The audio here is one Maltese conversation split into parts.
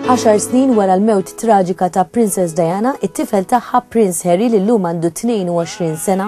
Għaxar snin wara l-mewt traġika ta' Princess Diana, it-tifel tagħha Prince Harry li llum għandu 22 sena,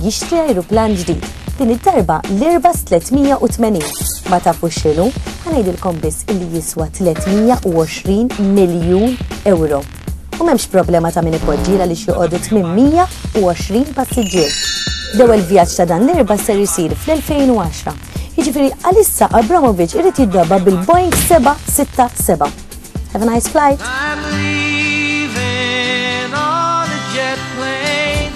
jixtri ajruplan ġdid, din id-darba l-Airbus 380. Ma tafux x'inhu? Ħa ngħidilkom biss illi jiswa 320 miljun ewro. U m'hemmx problema ta' min ipoġġi għaliex joqogħdu 820 passiġġier. L-ewwel vjaġġ ta' dan l-Airbus ser isir fl-2010. Jiġifieri għalissa Abramovich irid jiddabba bil-Boeing 767. Have a nice flight. I'm leaving on a jet plane.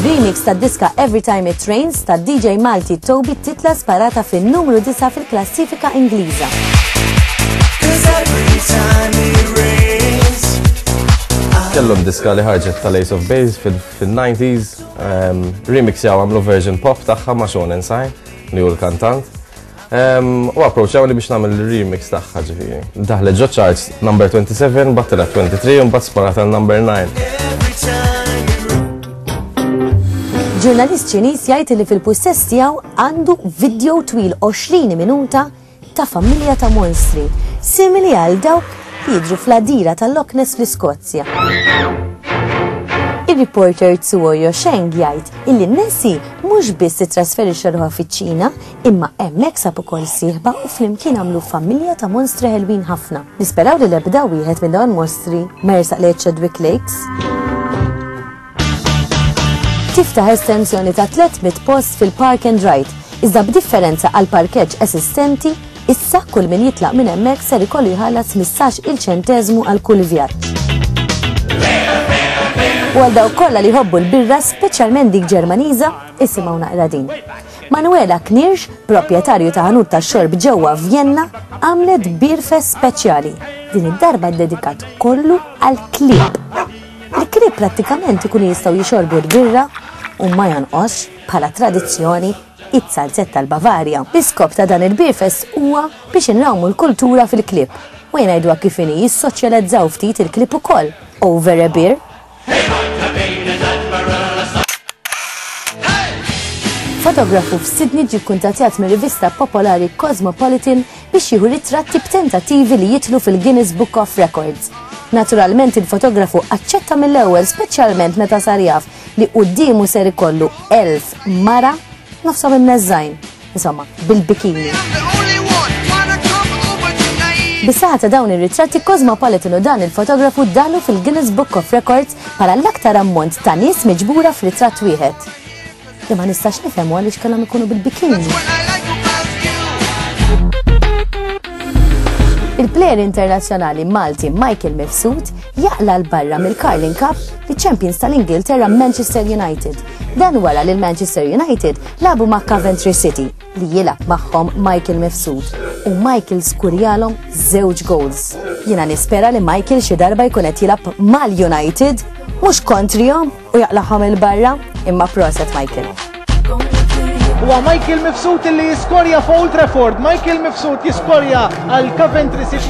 Remix ta' diska Every Time It Rains ta' DJ Malti Toby titla sparata fin numru 9 fil-klassifika Ingliża. Kellhom diska li ħarġet tal-Ace of Base fil-90s, ehm, remix jaw għamlu version pop tagħha ma' Sean Inside li hu l-kantant. U approċċawni biex nagħmel remix tagħha ġifieri. Daħlet ġo charts number 27, battela 23 u mbagħad sparat għal number 9. Ġurnalist Ċiniż jgħid li fil-pussess tiegħu għandu video twil 20 minuta ta' familja ta' monstri, simili għal dawk li jidru fl-adira tal-Loch Ness fl-Iskozja. Il-reporter Tsuoyo Sheng jgħid illi Nessie mhux biss titrasferixxa ruħha fiċ-Ċina Imma hemmhekk sab ukoll sieħba u flimkien għamlu familja ta' monstri ħelwin ħafna. Nisperaw li l-ebda wieħed minn dawn il-monstri ma jersaq lejn Chadwick Lakes tiftaħ estensjoni ta' 300 post fil-Park and Ride, iżda b'differenza għal parkeġġ esistenti, issa kull min jitlaq minn hemmhekk ser ikollu jħallas 15 il ċenteżmu għal kull vjaġġ. U għal dawk kollha li jħobbu l-birra, speċjalment dik Ġermaniża, isimgħu naqra din. Manuela Knirsch, proprjetarju ta' ħanut tax-xorb ġewwa Vjenna, għamlet bierfes speċjali, din id-darba ddedikat kollu għall-klieb. Il-klieb prattikament ikunu jistgħu jixorbu l-birra u ma jonqosx, bħala tradizzjoni, iz-zalzett tal-Bavarja. L-iskop ta' dan il-bierfes huwa biex inrawmu l-kultura fil-klieb, u ngħiduha kif inhi jissoċjalizzaw ftit il-klieb ukoll, over a beer. Fotografu f'Sidni ġi kkuntattjat mir-rivista popolari Cosmopolitan biex jieħu ritratti b'tentattivi li jitlu fil-Guinness Book of Records. Naturalment il-fotografu aċċetta mill-ewwel speċjalment meta sar jaf li quddiemu ser ikollu elf mara nofshom imneżżajn. Insomma, bil-bikini. Bisaħa ta' dawn ir-ritratti Cosmopolitan u dan il-fotografu dalu fil-Guinness Book of Records bħala l-aktar ammont ta' nies miġbura f'ritratt wieħed. Imma nistax nifhem għaliex kellhom ikunu bil-bikini. Il-plejer internazzjonali Malti Michael Mifsud jaqla l-barra mill-Carling Cup li champions tal-Ingilterra Manchester United. Dan wara li l-Manchester United Labu ma' Coventry City li jilab magħhom Michael Mifsud u Michael skurjalhom żewġ goals. Jiena nispera li Michael xi darba jkun qed jilab mal-United mhux kontrihom u jaqlagħhom il-barra imma proset Michael. Huwa Michael Mifsud li jiskorja fuq Old Trafford. Michael Mifsud jiskorja għal Coventry City.